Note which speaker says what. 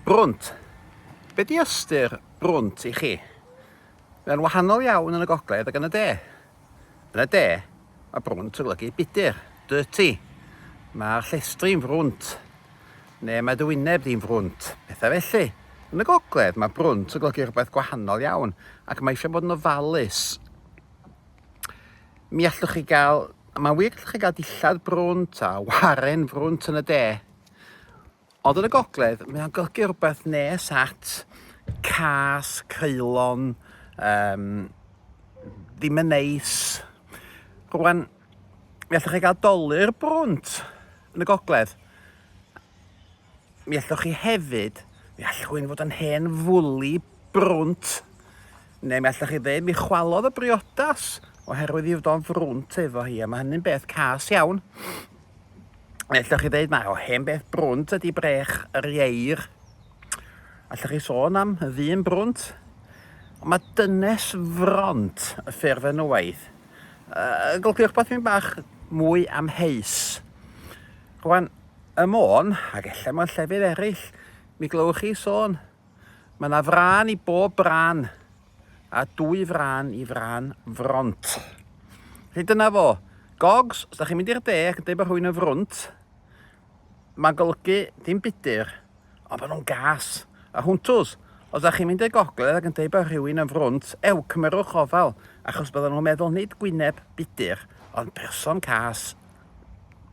Speaker 1: Brwnt. Be di ystyr brwnt i chi? Mae'n wahanol iawn yn y gogledd ac yn y de. Yn y de, mae brwnt yn golygu budur, dirty. Mae'r llestri'n frwnt, neu mae dy wyneb di'n frwnt, pethau felly. Yn y gogledd, mae brwnt yn golygu rhywbeth gwahanol iawn ac mae eisiau bod yn ofalus. Mi allwch chi gael, mae'n wir gallwch chi gael dillad brwnt a waren frwnt yn y de. Ond yn y gogledd, mae o'n golygu rhywbeth nes at cas, creulon, um, ddim yn neis. Rwan, mi allwch chi gael dolur brwnt yn y gogledd. Mi allwch chi hefyd, mi allwch chi'n fod yn hen fwli brwnt, neu mi allwch chi ddeud mi chwalodd y briodas oherwydd i fod o'n frwnt efo hi, a mae hynny'n beth cas iawn. Ellwch chi ddeud mae o hen beth brwnt ydy brech yr ieir. Allwch chi sôn am y ddyn brwnt? Ond mae dynes front y ffurf yn waith. Uh, Golchiwch beth fi'n bach mwy am heis. Rwan, y môn, ac efallai mewn llefydd eraill, mi glywch chi sôn Mae 'na frân i bob brân, a dwy frân i frân front. Felly dyna fo. Gogs, os da chi'n mynd i'r de ac yn dweud bod rhywun yn frwnt, mae'n golygu dim budur, ond bod nhw'n gas. A hwntws, os da chi'n mynd i'r gogledd ac yn dweud bod rhywun yn frwnt, ew, cymerwch ofal, achos bydden nhw'n meddwl nid gwyneb budur, ond person cas.